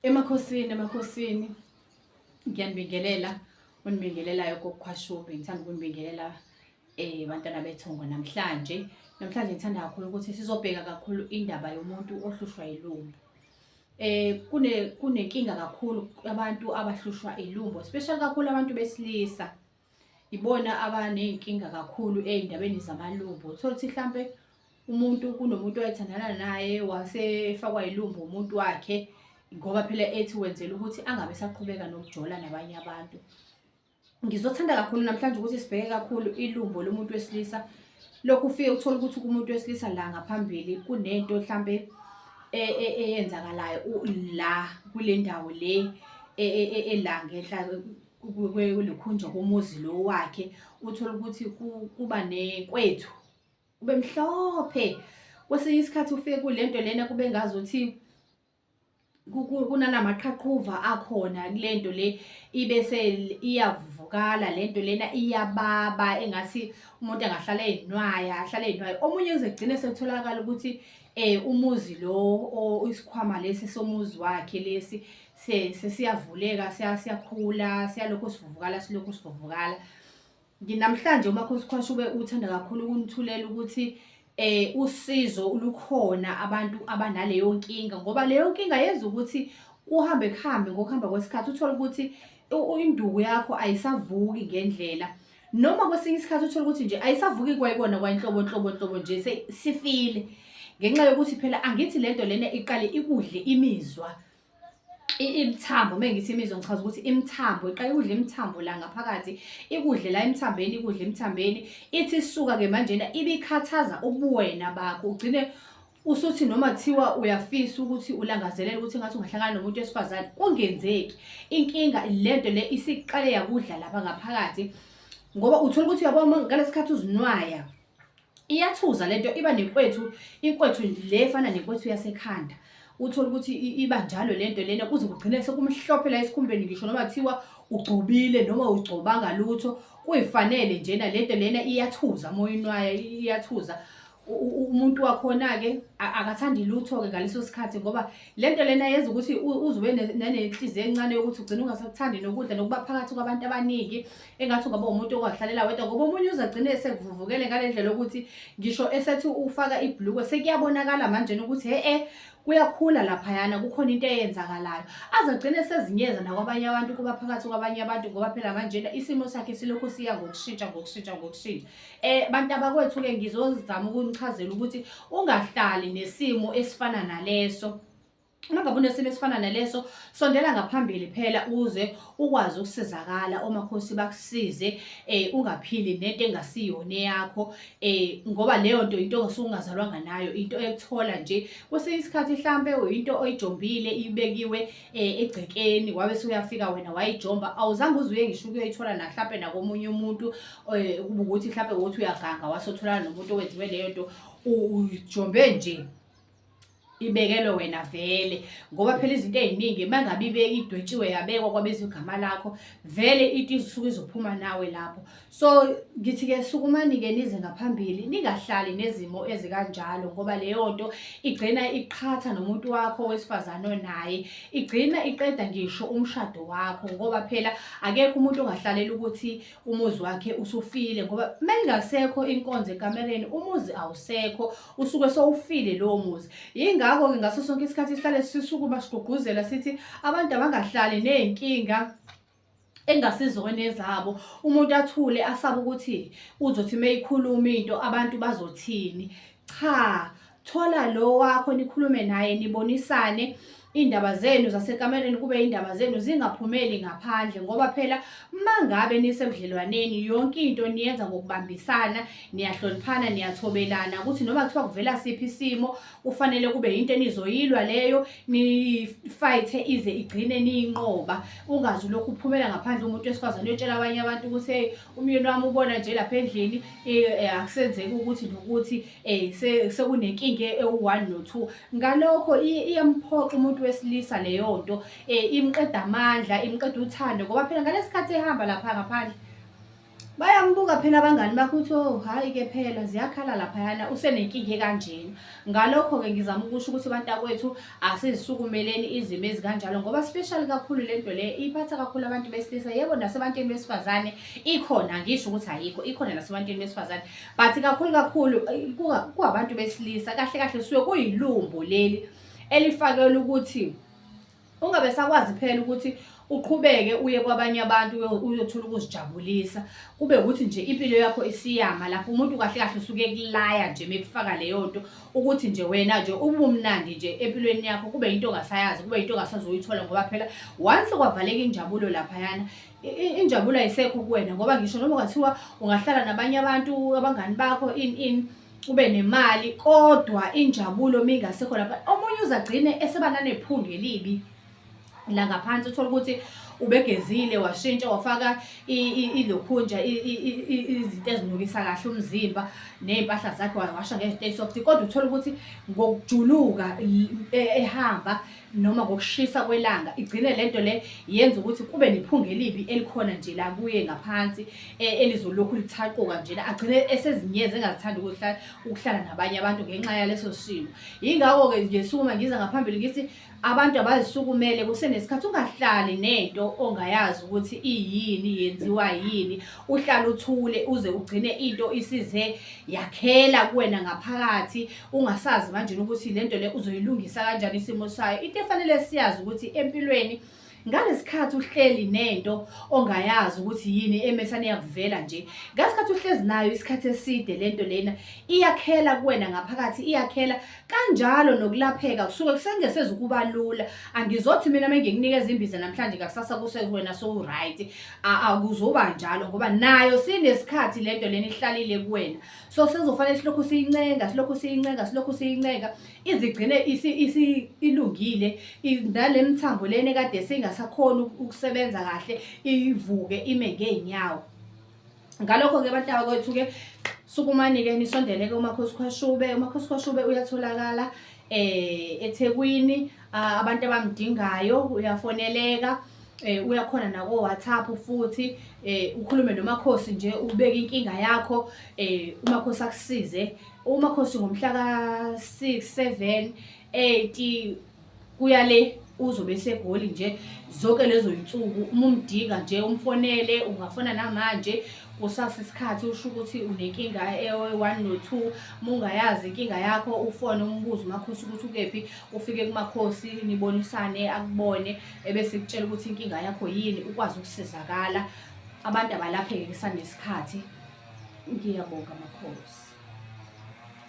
Emakhosini emakhosini ngiyanibingelela unibingelelayo kokukhwashubi ngithanda ukunibingelela eh bantwana bethongo namhlanje namhlanje ngithanda kakhulu ukuthi sizobheka kakhulu indaba yomuntu ohlushwa ilumbo eh kune kunenkinga kakhulu abantu abahlushwa ilumbo especially kakhulu abantu besilisa ibona abaney'nkinga kakhulu ey'ndabeni zamalumbo uthole ukuthi mhlampe umuntu kunomuntu owayethandana naye wasefakwa yilumbo umuntu wakhe ngoba phela ethi wenzela ukuthi angabe saqhubeka nokujola nabanye abantu ngizothanda kakhulu namhlanje ukuthi sibheke kakhulu ilumbo lomuntu wesilisa lokhu ufike uthole ukuthi kumuntu wesilisa la ngaphambili kunento mhlampe e, e, eyenzakalayo la kule ndawo le e, ela ngenhla kulikhunjwa komuzi lo wakhe uthole ukuthi kuba nekwethu kube mhlophe kwesinye isikhathi ufike kule nto lena kube ngazi ukuthi kunanamaqhaqhuva akhona kule nto le ibe se iyavuvukala le nto lena iyababa engathi umuntu angahlala eyinwaya ahlale eyinwaya omunye kuze kugcine sekutholakala ukuthi eh umuzi lo isikhwama lesi somuzi wakhe lesi sesiyavuleka siyakhula siyalokhu sivuvukala silokhu sivuvukala namhlanje umakhosi khosha ube uthanda kakhulu ukunithulela ukuthi eh usizo lukhona abantu abanaleyo nkinga ngoba leyo nkinga yenza ukuthi kuhambe kuhambe ngokuhamba kwesikhathi uthole ukuthi induku yakho ayisavuki ngendlela noma kwesinye isikhathi uthole ukuthi nje ayisavuki kwayikona kwanhlobo nhlobo nhlobo nje sifile ngenxa yokuthi phela angithi lento lena iqale ikudle imizwa imithambo uma ngithi imizwa ngichaza ukuthi imithambo iqala ikudla imithambo la ngaphakathi ikudle la emthambeni ikudla emthambeni ithi isuka-ke manjena ibikhathaza ubuwena bakho ugcine usuthi noma kuthiwa uyafisa ukuthi ulangazelela ukuthi ngathi ungahlangana nomuntu wesifazane kungenzeki inkinga lento le isiqale yakudla lapha ngaphakathi ngoba uthola ukuthi uyabona ngalesikhathi uzinwaya iyathuza lento iba nenkwethu inkwethu le efana nenkwethu yasekhanda uthole ukuthi iba njalo lento lena kuze kugcine sekumhlophe la esikhumbeni ngisho noma kuthiwa ugcobile noma ugcobanga lutho kuyifanele njena lento lena iyathuza moyeni wayo iyathuza umuntu wakhona-ke akathandi lutho-ke ngaleso sikhathi ngoba le nto lena yenza ukuthi uzube nenhliziyo encane yokuthi ugcine ungasakuthandi nokudla nokuba phakathi kwabantu abaningi engathi ungaba umuntu ongahlalela wedwa ngoba omunye uzagcine esekuvuvukele ngale ndlela ukuthi ngisho esethi ufaka ibhulukwe sekuyabonakala manje ukuthi he-e kuyakhula laphayana kukhona into eyenzakalayo azagcine sezinyeza nakwabanye abantu kuba phakathi kwabanye abantu ngoba phela manjena isimo sakhe silokhu siya ngokushintsha ngokushintsha ngokushintsha um bantu abakwethu-ke ngizozama ukunichazela ukuthi ungahlali nesimo esifana naleso Uma ngabe unesimo esifana naleso, sondela ngaphambili phela uze ukwazi ukusizakala omakhosi bakusize eh ungaphili nento engasiyona eyakho eh ngoba leyo nto into osungazalwanga nayo into ekuthola nje kwesinye isikhathi mhlambe uyinto oyijombile ibekiwe eh egcekeni wabe suyafika wena wayijomba awuzange uzuye ngisho ukuyoyithola na mhlambe nakomunye umuntu eh kuba ukuthi mhlambe wothi uyaganga wasothola nomuntu owenziwe leyo nto ujombe nje ibekelwe wena vele ngoba phela izinto eziningi mangabe ibeke idwetshiwe yabekwa kwabizwa igama lakho vele into isuke izophuma nawe lapho so ngithi ke sukumani ke nize ngaphambili ningahlali nezimo ezikanjalo ngoba leyo nto igcina iqhatha nomuntu wakho wesifazane onaye igcina iqeda ngisho umshado wakho ngoba phela akekho umuntu ongahlalela ukuthi umuzi wakhe usufile ngoba uma ingasekho inkonzo ekamereni umuzi awusekho usuke sowufile lowo muzi yingakho-ke ngaso sonke isikhathi sihlale sisukuma sigqugquzela sithi abantu abangahlali ney'nkinga engasizona ezabo umuntu athule asabe ukuthi uzothi uma ikhuluma into abantu bazothini cha thola lo wakho nikhulume naye nibonisane iy'ndaba zenu zasekamelweni kube iy'ndaba zenu zingaphumeli ngaphandle ngoba phela uma ngabe nisebudlelwaneni yonke into niyenza ngokubambisana niyahloniphana niyathobelana ukuthi noma kuthiwa kuvela siphi isimo kufanele kube yinto enizoyilwa leyo nifayithe ize igcine niyinqoba ungazi lokhu uphumela ngaphandle umuntu wesifazane uyotshela abanye abantu ukuthi umyeni wami ubona nje lapha endlini eh, eh, akusenzeki ukuthi nokuthi eh, sekunenkinga ewu-one no-two ngalokho iyamphoxa umuntu wesilisa leyo nto imqeda amandla imqeda uthando ngoba phela ngalesi khathi ehamba lapha ngaphandle bayambuka phela abangani bakho ukuthi o oh, hhayi-ke phela ziyakhala laphayana usenenkinga ekanjena ngalokho-ke ngizama ukusho ukuthi abantu akwethu asizisukumeleni izimo ezikanjalo ngoba special kakhulu lento le iphatha kakhulu abantu besilisa yebo nasebantwini besifazane ikhona ngisho ukuthi ayikho ikhona nasebantwini besifazane but kakhulu kakhulu eh, kuwabantu besilisa kahle kahle suke kuyilumbo leli elifakelwe ukuthi ungabe sakwazi phela ukuthi uqhubeke uye kwabanye abantu uyothola ukuzijabulisa kube ukuthi nje impilo yakho isiyama lapho umuntu kahle kahle usuke kulaya nje mekufaka leyo nto ukuthi nje wena nje ubumnandi nje empilweni yakho kube into ongasayazi kube into ongasazoyithola ngoba phela once kwavaleka injabulo laphayana injabulo ayisekho kuwena ngoba ngisho noma ungathiwa ungahlala nabanye abantu abangani bakho in in ube nemali kodwa injabulo mingasekho lapha omunye uzagcine eseba nanephunga elibi la ngaphansi uthola ukuthi ubegezile washintsha wafaka ilokhunja izinto ezinukisa kahle umzimba ney'mpahla zakhe wawasha ngezinto eyi-soft kodwa uthole ukuthi ngokujuluka e, ehamba noma ngokushisa kwelanga igcine le nto le yenza ukuthi kube nephunga elibi elikhona nje la kuye ngaphansi e, elizolokhu lithaquka nje la agcine esezinyezi engazithandi ukuhlala nabanye abantu ngenxa yaleso simo yingakho-ke ngesukuma ngiza ngaphambili ngithi Abantu abazisukumele kusenesikhathi ungahlali nento ongayazi ukuthi iyini yenziwa yini uhlala uthule uze ugcine into isize yakhela kuwena ngaphakathi ungasazi manje ukuthi lento le uzoyilungisa kanjani isimo sayo into efanele siyazi ukuthi empilweni ngalesikhathi uhleli nento ongayazi ukuthi yini emesane yakuvela nje ngasikhathi uhlezi nayo isikhathi eside lento lena iyakhela kuwena ngaphakathi iyakhela kanjalo nokulapheka kusuke kusengeseza ukuba lula angizothi mina menginikeza imbiza namhlanje ngakusasa kuse wena so right akuzoba njalo ngoba nayo sinesikhathi lento lena ihlalile kuwena so sezofanele silokhu siyincenga silokhu siyincenga silokhu siyincenga izigcine ilungile nale mthambo lena ekade singasakhoni ukusebenza kahle ivuke ime ngey'nyawo ngalokho-ke abantu abakwethu-ke sukumani-ke nisondele-ke umakhosikhoshube umakhosikhoshube uyatholakala eh eThekwini abantu abamdingayo uyafoneleka eh uyakhona nako WhatsApp futhi eh ukhulume nomakhosi nje ubeke inkinga yakho eh umakhosi akusize umakhosi ngomhla ka-6 7 8 kuya le uzobe esegoli nje zonke lezo yinsuku uma umdinga nje umfonele ungafona namanje kusasa isikhathi usho ukuthi unenkinga e-one no-two uma ungayazi inkinga yakho ufone umbuzo umakhosi ukuthi ukephi ufike kumakhosi nibonisane akubone ebese kutshela ukuthi inkinga yakho yini ukwazi ukusizakala abantu abalapheke kusanesikhathi ngiyabonga makhosi